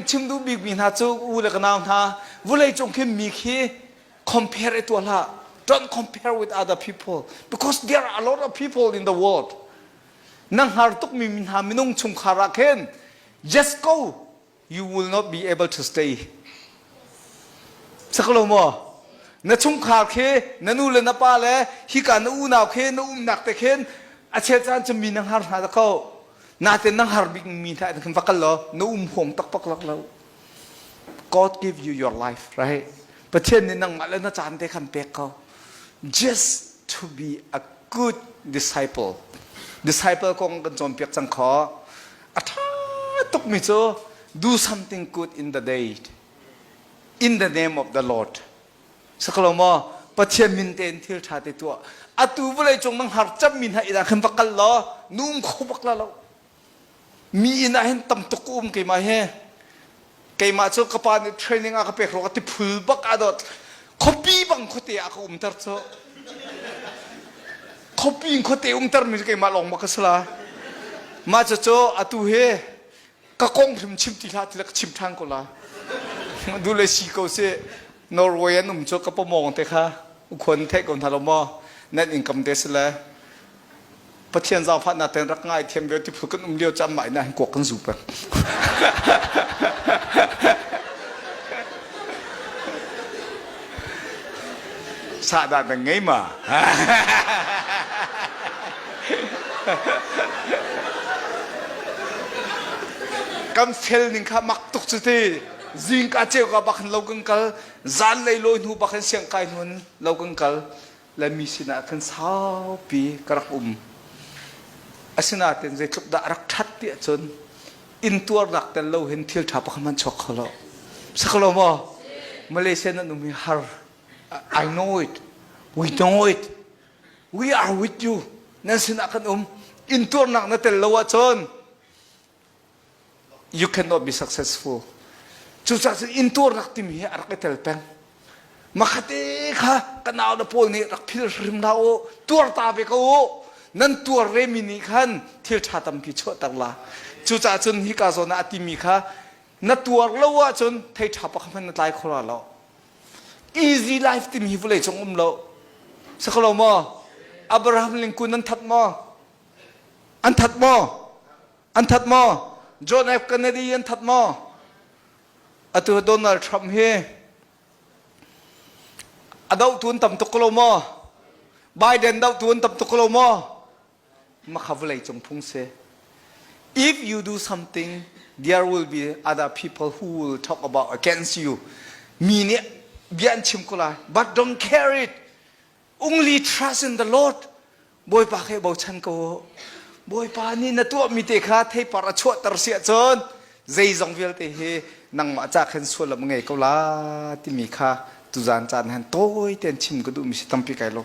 chim duh bikmi hna cu u le ka nau hna vulei cung khin mi khi compare i tuah hlah don't compare with other people because there are a lot of people in the world na hngar tukmi hna minung chungkhar ah khin just go you will not be able to stay saklo maw na chungkhar khi na nu le na pa le hika na unau khi na umnak te khin a chet caan cu mi na hngar hna da ko natin nang har bik mi hna khin va kal law na um huang tak pak lak lo God give you your life right Pathian nih nangmah le na caan te khan pek ko just to be a good disciple disciple kong kan cawnpiak cang kho a ṭha tuk mi cu do something good in the day in the name of the Lord Sakalo maw Pathian min tein thil ṭha te tuah atu vawlei cung na hngar cammi hna inn ah khan va kal law num kho bak la lo mi inn ah hin tam tuk um keimah hi keimah cu ka pa nih training a ka pek ruangah tiphul bak aa dawt khuapi bang khuate ah ka umter cu khuapi in khuate umtermi cu keimah lawng bak ka si la mah cucu atu hi ka kong hrim chim ti hlah ti ka chim ṭhan ko la du le si ko si norway an um cu ka pomong te kha ukhuan thei ko hna lo maw net income te si le pathian zaangfah na ten rak ngai thiam ve ti phul kan um lio cham mai na kuak kan zu pa Sahdah na ngei ma? kan fel ning kha mak tuk cu ti zingka ceu ka bak lo kan kal zan lei lawi hnu bak in siang kai hnuan lo kan kal le mi sinah khan saupi ka rak um. Asinain zeitluk dah a rak ṭhat ti ahcun intuarnak tel lo hin thil ṭha pakhat hmanh chuak kho lo. Si kho lo maw? Malaysia nan um hi har. I know it. We know it. We are with you. Nan sinah kan um. Intuarnak na tel lo ahcun You cannot be successful. Cucaah cun intuar rak timi hi a rak i tel peng. Makhate kha ka nau le pawl nih rak phil hrim hlah u. Tuar ta ve ko u. Nan tuar ve mi nih khan thil ṭha tampi chuahter la. Cucaah cun hika zawn ah a timi kha na tuar lo ahcun thei ṭha pakhat hmanh na tlai kho la lo. Easy life timi hi vawlei cung um lo. Sakalo maw? Abraham lingkun nan that maw? An that maw? An that maw? John F. Kennedy an that maw? Atu Donald Trump hi a doh tun tam tuk lo maw? Biden doh tun tam tuk lo maw? Makha vawlei cung phung si. If you do something, there will be other people who will talk about against you. Mi nih bia an chim ko lai. But don't care it. Only trust in the Lord. Bawipa khe bochan ko. Bawipa nih na tuahmi te kha theipar a chuahter si ahcun zeizong vialte hi nangmah ca khan sualam ngei ko la timi kha tuzan caan han tawi tein chim ka duhmi si tampi kai lawm.